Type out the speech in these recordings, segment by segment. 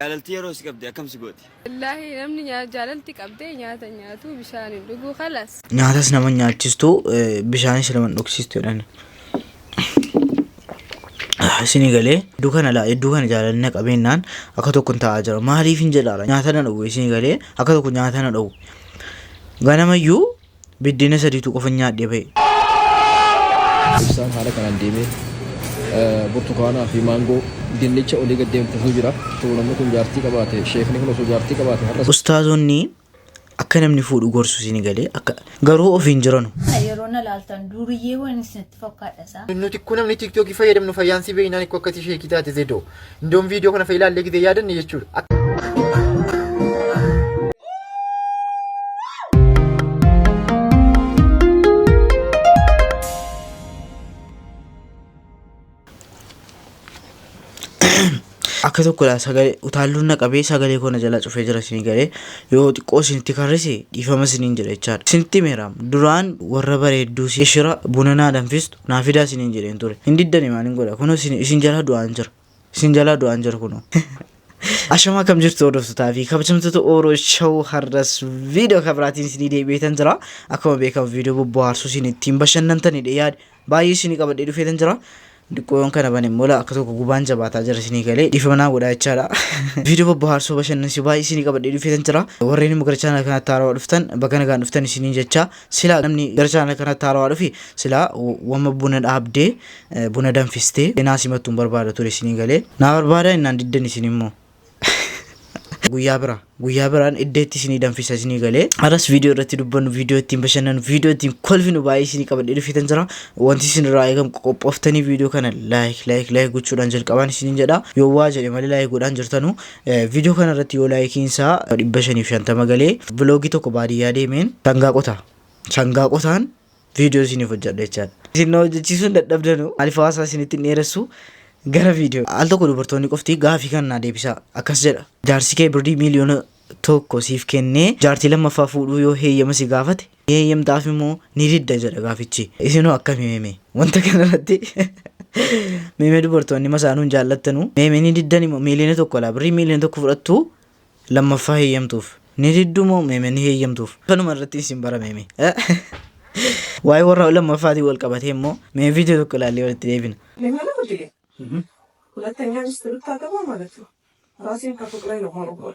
Jaalalti yeroo si qabde akkam si gooti? Wallaahi namni nyaa- jaalalti qabdee nyaata hin nyaatu bishaan hin dhuguu kalas. Nyaatas nama nyaachistu bishaanis nama hin dhugsiistu jedhan. Isinii galee hedduu kana laa hedduu kana jaalalli na qabeennaan akka tokko hin taa'aa jira. Maaliif hin jedhaara nyaata na dhowwe isinii galee akka tokko nyaata na dhowwe. Ganamayyu Biddeena sadiitu qofan nyaadhee ba'e. Ibsaan haala kanaan deemee burtukaanaa fi maangoo dinnicha olii gad deemsisu jira. Osoo namni kun jaartii qabaate, sheekni kun osoo jaartii qabaate har'as. Ustaazonni akka namni fuudhu gorsu isin galee akka garuu ofiin jiranu. Yeroo na laaltan duuriyyee waan isinitti fakkaadha isaa. Nuti kun namni tiktookii fayyadamnu fayyaansii beeynaan ikko akkasii sheekii taate zedoo. Indoon viidiyoo kana fayyilaallee gidee yaadanne jechuudha. akka tokkodha sagalee utaalluun na qabee sagalee koo na jalaa cufee jira isin galee yoo xiqqoo isinitti karrise dhiifama isiniin jedha jechaadha. Isinitti meeraam duraan warra bareedduu ishira buna naa danfistu naa fidaa isiniin jedheen ture hin diddani maalin godha kunoo isin isin jalaa du'aan jira isin jalaa du'aan jira kunoo Ashamaa kam jirtu hordoftotaa fi kabajamtoota Ooroo Show har'as viidiyoo kan biraatiin isinii deebi'eetan jira. Akkuma beekamu viidiyoo bobbohaarsuu isin ittiin bashannantanidha yaada baay'ee isinii qabadhee dhufeetan jira. Diqqoon kana bane immoo akka tokko gubaan jabaataa jira isinii galee dhiifamnaa godhaa jechaadha. Viidiyoo bobbohaarsuu bashannansiisuu baay'ee isinii qabadhee dhufeetan jira. Warreen immoo gara chaanala kanaatti haarawaa dhuftan baga nagaan dhuftan isiniin jechaa Sila namni gara chaanala kanatti haarawaa dhufe sila wamma buna dhaabdee buna danfistee naa simattu hin barbaada ture isinii galee naa barbaada innaan diddan isin immoo guyyaa bira guyyaa biraan iddeetti isinii danfisa isinii galee aras viidiyoo irratti dubbannu viidiyoo ittiin bashannanu viidiyoo ittiin kolfinu baay'ee isinii qabadhee dhufitan jira wanti isin irraa eegamu qophooftanii viidiyoo kana laayik laayik laayik gochuudhaan jalqabaan isiniin jedha yoo waa jedhe malee laayik godhaan jirtanu Viidiyoo kana irratti yoo laayikiin isaa 550 galee biloogii tokko baadiyyaa deemeen sangaa qotaa. Sangaa qotaan viidiyoo isiniif hojjedha jechaadha. Isin na hojjechiisuun dadhabdanu maaliif hawaasaa isinitti hin dheeressu gara viidiyoo. Al tokko dubartoonni qofti gaafii kana naa deebisaa akkas jedha. Jaarsi kee birrii miiliyoona tokko siif kennee jaartii lammaffaa fuudhuu yoo heeyyama si gaafate Ni heeyyamtaafii moo ni didda jedha gaafichi. Isinoo akkami meme? Wanta kanarratti meme dubartoonni masaanuu hin jaallattanu. Meme ni diddani moo miiliyoona tokko laa birrii miiliyoona tokko fudhattu lammaffaa heeyyamtuuf. Ni diddu moo meme ni heeyyamtuuf. Kanuma irratti isin bara meme. Waa'ee warra lammaffaatiin wal qabatee immoo mee viidiyoo tokko ilaallee walitti deebina. Limana Hudile. Hulatanya misti rutaa gabaa malatu. Raasin ka fuqree no horobol.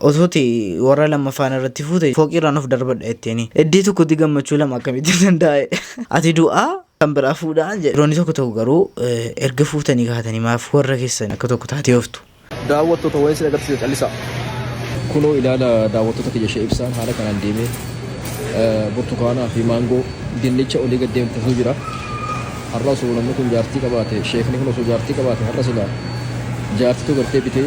Otuuti warra lammaffaan irratti fuute fooqiirraan of darbadha jetteeni. Eddee tokkotti gammachuu lama akkamitti danda'e? Ati du'aa kan biraa fuudhaan jedhe. Dhiironni tokko tokko garuu erga fuutanii kaatanii maaf warra keessan akka tokko taatee ooftu? Daawwattoota waa'ee sin agarsiisa callisaa. Kunoo ilaala daawwattoota kiyya ishee ibsaan haala kanaan deemee burtukaanaa fi maangoo dinnicha olii gad deemtu osoo jira. Har'a osoo namni kun jaartii qabaate sheekni kun osoo jaartii qabaate har'a silaa jaartitu gartee bitee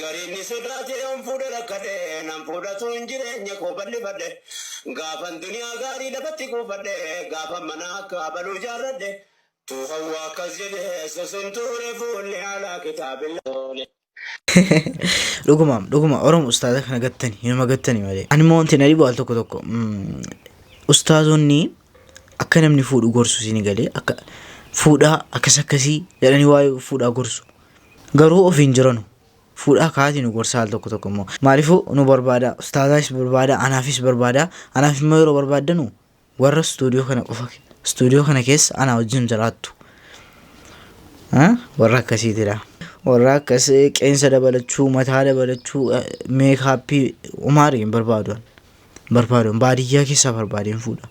Gariin ni sodaate yoon fuudhe rakkadhe nan fuudhatuun jireenya koo bal'ifadhe gaafan duniyaa gaarii lafatti kuufadhe gaafan mana akka abaluu ijaarradhe tu hawwa akkas jedhe susun tuure fuulli alaa kitaabilla oole. Dhugumaam dhuguma Oromo ustaaza kana gattani inuma gattani malee. Anuma wanti na dhibu al tokko tokko ustaazonni Akka namni fuudhu gorsu isin galee akka fuudhaa akkas akkasii jedhanii waa'ee fuudhaa gorsu. Garuu ofiin jiranu fuudhaa kaati nu gorsa al tokko tokko immoo maaliifuu nu barbaada ustaazaas barbaada anaafis barbaada anaaf immoo yeroo barbaaddanu warra istuudiyoo kana qofa istuudiyoo kana keessa anaa wajjin jiraattu. Warra akkasiitidha. Warra akkas qeensa dabalachuu mataa dabalachuu meekaappii umaari hin barbaadu. Barbaadoon baadiyyaa keessaa barbaadeen fuudha.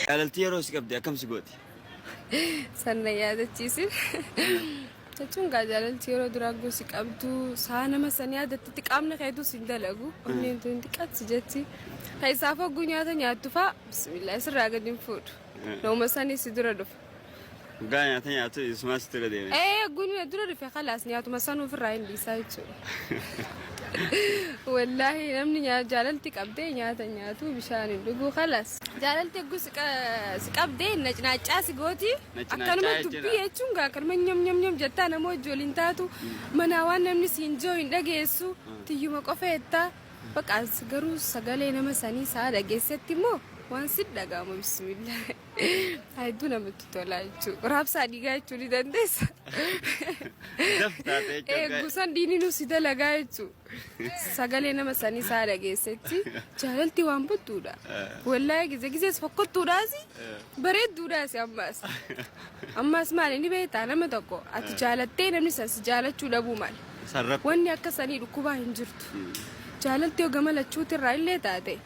Jaalalti yeroo si qabde akkam si gooti? Sanna yaadachiisin. Jechuun gaa jaalalti yeroo duraa guu si qabdu saa nama san yaadattatti qaamni keetu si hin dalagu. Onneen tun xiqqaatti si jetti. Keessaaf hogguu nyaata nyaattu faa bismillah sirraa gadi hin fuudhu. Nama sanii si dura dhufa. Dhugaa nyaata nyaatu isumaa sitti irra deeme. Ee guni na dura dhufe kalaas nyaatuma sanuu ofirraa hin dhiisaa jechuudha. Wallaahi namni nyaa- jaalalti qabdee nyaata nyaatu bishaan hin dhuguu kalaas. Jaalalti egguu si qa- si qabdee nacnaacaa si gooti. Nacnaacaa Akkanuma jechuudha. dubbii jechuun gaa akkanuma nyam nyam nyam jettaa nama wajji waliin taatu manaa waan namni si hin joo hin dhageessu tiyyuma qofa jettaa. Baqaas garuu sagalee nama sanii saa dhageessetti immoo waan si dhaga'ama bismillah. Hedduu namatti tola jechuudha. Raabsaa dhiigaa jechuu ni dandeessa. Daf taatee jechuudha. Eeggusan diininuu si dalagaa jechuudha. Sagalee nama sanii isaa dhageessetti jaalalti waan buttuudha. Wallaahi gizee gizees fokkottuudhaas bareedduudhaas ammaas. Ammaas maali ni beektaa nama tokko ati jaalattee namni san si jaalachuu dhabuu maali. Sarratti. Wanni akka sanii dhukkubaa hin jirtu. Jaalalti yoo gama lachuutirraa illee taate.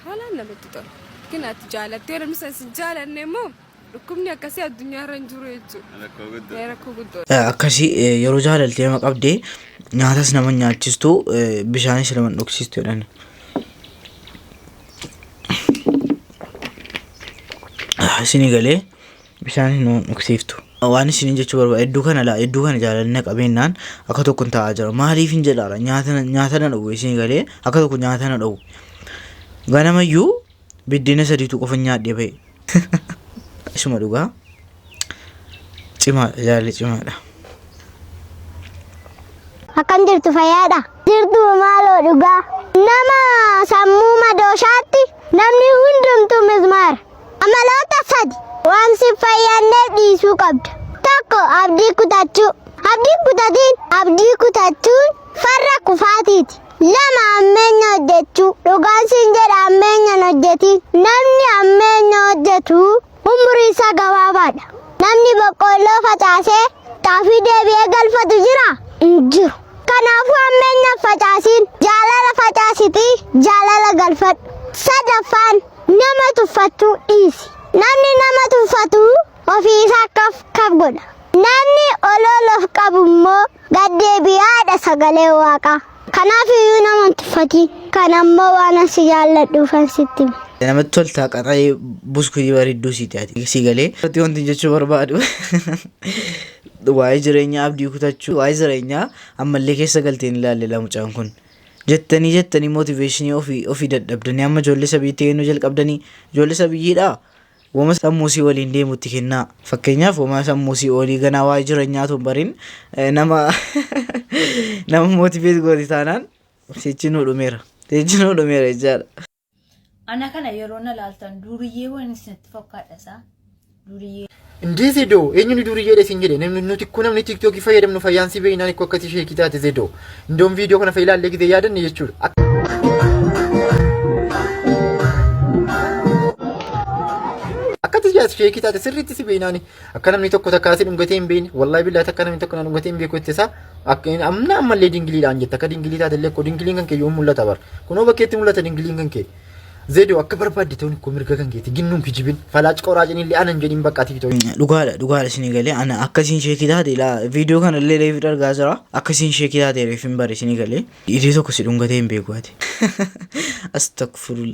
Haalaan namatti tola. Ykn ati jaalattee yoo namni san sin jaalanne immoo dhukkubni akkasii addunyaarra hin jiru jechuudha. Rakkoo guddoo. Ee, Rakkoo guddoo. akkasi yeroo jaalalti nama qabde nyaatas nama nyaachistu bishaanis nama hin dhugsiistu jedhan. Isinii galee bishaan hin dhugsiiftu. Waan isiniin jechuu barbaade iddoo kana laa iddoo kana jaalalli na qabeennaan akka tokko hin taa'aa jira maaliif hin jedhaara nyaata na- nyaata na dhowwe isin galee akka tokko nyaata na dhowwe ganamayyuu biddeena sadiitu qofa nyaadhee ba'e isuma dhugaa cimaadha jaalalli cimaadha. Akkam jirtu fayyaadha? Jirtu maaloo dhugaa. Nama sammuu madooshaatti namni hundumtuu mizmaara. Amaloota sadi waan sin fayyadneef dhiisuu qabda. Tokko abdii kutachuu. Abdiin kutatiin abdii kutachuun farra kufaatiiti. Lama ammeenya hojjechuu. Dhugaan sin jedha ammeenyan hojjetiin. Namni ammeenya hojjetu umrii isaa gabaabaadha. Namni boqqoolloo facaasee xaafii deebi'ee galfatu jira? Hin jiru. Kanaafuu ammeenyaaf facaasiin jaalala facaasitii jaalala galfadhu. Sadaffaan Nama tuffattu dhiisi. Namni nama tuffatu ofii isaa kaf kaf godha. Namni ol ol of qabu immoo gad deebi'aadha sagalee waaqaa. Kanaaf iyyuu nama hin tuffatiin. Kan ammoo waan an si jaalladhuufan sitti hime. Namatti toltaa qaxalee buskutii bareedduu siiti ati si galee. Irratti wanti jechuu barbaadu waa'ee jireenyaa abdii kutachuu waa'ee jireenyaa ammallee keessa galteen ilaalle lamucaan kun. Jettanii jettanii motivation ofi ofi dadhabdanii amma ijoollee sabiyyitti kennuu jalqabdanii ijoollee sabiyyiidhaa wama sammuusii waliin deemutti kennaa. Fakkeenyaaf wama sammuusii olii ganaa waa'ee jirenyaa tun barin eh, nama nama motivate gooti taanaan sichi nuu dhumeera. Sichi nuu dhumeera jechaadha. Ana kana yeroo na laaltan duuriyyee waan isinitti fakkaadha isaa. Duuriyyee. Indee zedoo eenyu ni duuriyyee dha isin jedhe namni nuti kun namni tiiktookii fayyadamnu fayyaan si beeynaan ikkoo akkasii sheekii taate zedoo. Indoon viidiyoo kana fayyilaa illee gidee yaadanne jechuudha. Akka- Akkati jaas sheekii taate sirriitti si beeynaan Akka namni tokko takka asi dhungatee hin beekne wallahi billahi takka namni tokko na dhungatee hin beeku ittisa akka inni amna ammallee dingiliidhaan jetta akka dingilii taate illee koo dingiliin kan kee yoo mul'ata bar kunoo bakkeetti mul'ata dingiliin kan kee zeedoo akka barbaadde ta'uun koo mirga kan keeti ginnuun kijibin falaac qoraacin illee anan jedhin bakka tiktoo dhugaadha dhugaadha isin galee ana akkasiin sheekii taate ilaa viidiyoo kana illee reefi dhargaa jira akkasiin sheekii taate reefin bare isin galee idii tokko si dhungatee hin beeku ati astakfurul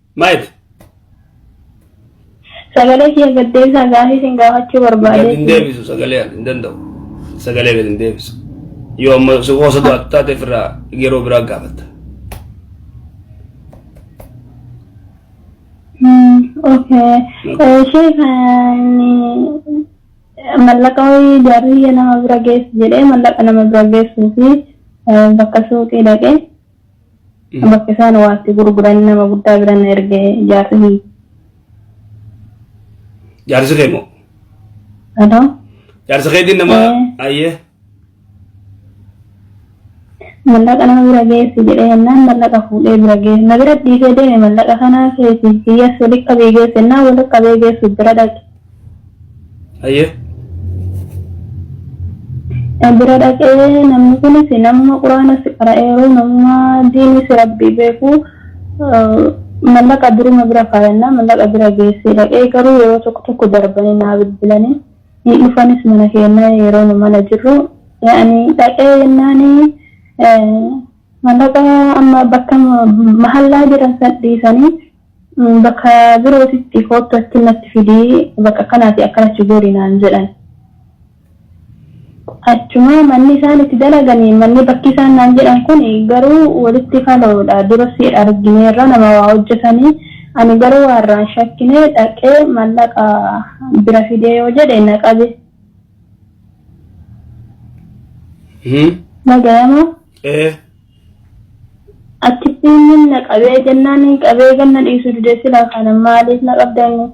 Maayit. Sagalee kiyya gad deebisaa gaafii isin gaafachuu Gad hin barbaade. deebisu sagalee hin danda'u. Sagalee gad hin deebisu. Yoo amma si qoosatu ati taate ofirraa yeroo biraa gaafatta. Hmm, Okay. Eh, Sheekha inni mallaqa wayii jaarriyya nama bira geessu jedhee mallaqa nama bira geessuu fi eh, bakka suuqii dhaqee Bakka isaan waa itti gurguran nama guddaa bira na erge jaarsi kiyya. Jaarsi kee moo? Halo? Jaarsa keetiin nama Ee. ayyee. Mallaqa nama bira geessi jedhee jennaan mallaqa fuudhee bira geessi. Na bira dhiisee deeme mallaqa kanaa keessa kiyyas walitti qabee geesse jennaan walitti qabee geessu bira dhaqe. Hayyee. Bira dhaqee namni kunis nama quraana si qara'eeru nama diini si rabbii beeku mallaqa duruma bira kaayannaa mallaqa bira geessee dhaqee garuu yeroo tokko tokko darbanii naa bilbilanii hin dhufanis mana keennaa yeroo nu mana jirru yaani dhaqee jennaani mallaqa amma bakka mahallaa jiran san dhiisanii Bakka birootitti koottu achi natti fidi, bakka akkanaatii akkanatti godhi naan jedhan. Achuma manni isaan itti dalagan, manni bakki isaan naan jedhan kun garuu walitti kaloodha. Duras argineerra nama waa hojjetanii. Ani garuu waa irraa hin shakkine, dhaqee mallaqa bira fidee yoo jedhe na qabe. Nagayama. Ee. Achittiin nin na qabee jennaan nin qabee kan na dhiisu dide silaa kana maaliif na qabda inni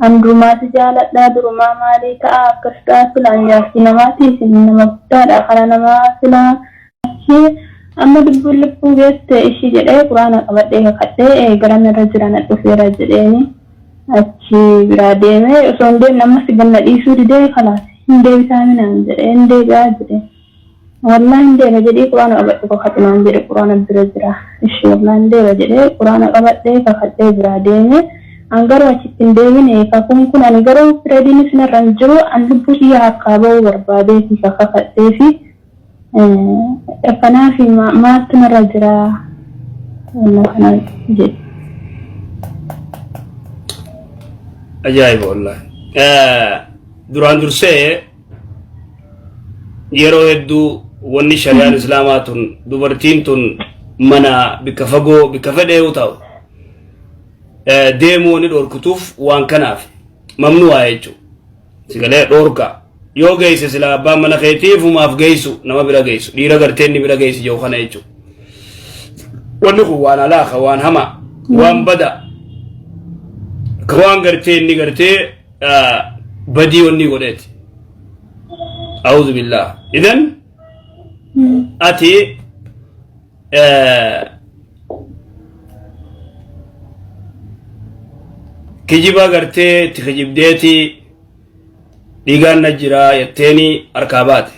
an durumaa si jaaladha durumaa maalii ta'a akkas ta'a silaa an jaartii namaati isin nama guddaadha kara namaa silaa achi amma lubbuun lubbuu geette ishi jedhee quraana qabadhee kakadhee eegalan irra jira na dhufeera jedheeni achi biraa deemee osoo hin deemne ammas ganna dhiisuu didee kalaas hin deebitaa minaan jedhee hin deebi'aa jedhee. Wallahi hin deema jedhii quraana qabadhu kakadhu naan jedhe quraana bira jira ishi wallahi hin deema jedhee quraana qabadhe kakadhee biraa deeme an garuu achitti hin deemine kakuun kun ani garuu pirediinis narra hin jiru an lubbuu tiyya harkaa ba'uu barbaadeeti ka kakadheefi kanaafi maaltu narra jira wanna kana jedhe. Ajaa'iba wallahi. Duraan dursee yeroo hedduu wanni shari'aan islaamaa tun dubartiin tun mana bikka fagoo bikka fedhe yoo ta'u eh, deemuu wanni dhorkutuuf waan kanaaf mamnu'aa jechuudha. Sigalee dhorka yoo geesse silaa abbaan mana keetii fumaaf geessu nama bira geessu dhiira gartee inni bira geessi jiru kana jechuudha. Wanni kun waan alaaqa waan hamaa waan bada ka waan gartee inni gartee badii onni godheeti a'uuzu billaa idan ati kijiba gartee itti kijibdeeti dhiigaan na jira jetteeni harkaa baate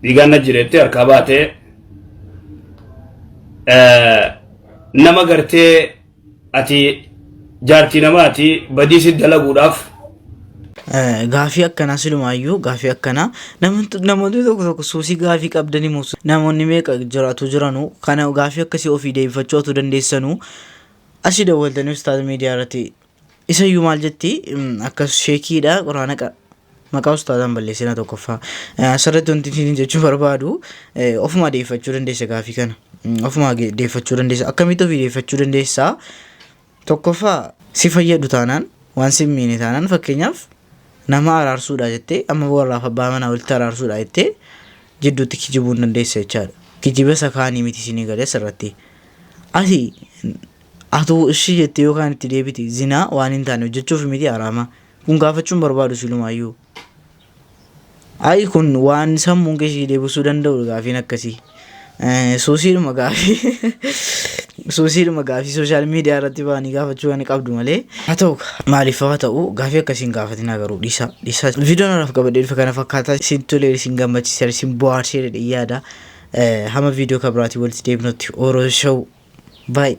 dhiigaan na jireettee harkaa baatee nama gartee ati jaartii namaati badii si dalaguudhaaf Gaafii akkanaa silumaayyuu gaafii akkanaa namoonni tokko tokko suusii gaafii qabdanii moo namoonni meeqa jiraatu jiranu kana gaafii akkasii ofii deebifachuu otuu dandeessanuu asii dawwaltanii ustaaza miidiyaa irratti Isa iyyuu maal jetti akkas sheekiidha quraana qa maqaa ustaazaan balleessina tokkoffaa asirratti wanti isin jechuu barbaadu ofuma deeffachuu dandeessa gaafii kana ofuma deeffachuu dandeessa akkamitti ofii deeffachuu dandeessa tokkoffaa si fayyadu taanaan waan si miine taanaan fakkeenyaaf nama araarsuudha jettee amma warraaf abbaa manaa walitti araarsuudha jettee jidduutti kijibuu hin dandeessa jechaadha kijiba isa kaanii miti isinii galee asirratti asi Atuu ishii jettee yoo kaan itti deebite zinaa waan hin taane hojjechuuf miti haraama. Kun gaafachuun barbaadu silumaayyuu. Ayi kun waan sammuun kee ishii deebisuu danda'u gaafiin akkasii. Eh, Suusiidhuma gaafii suusiidhuma gaafii sooshaal miidiyaa irratti ba'anii gaafachuu kan qabdu malee haa ta'u maaliif haa ta'u gaafii akkasiin gaafatinaa garuu dhiisaa dhiisaa viidiyoon haraaf qabadhee dhufe kana fakkaataa isin tolee isin gammachiiseera isin bohaarsee jedhee yaada Eh, hamma viidiyoo kan biraatiin walitti deebinutti oroo show baay'ee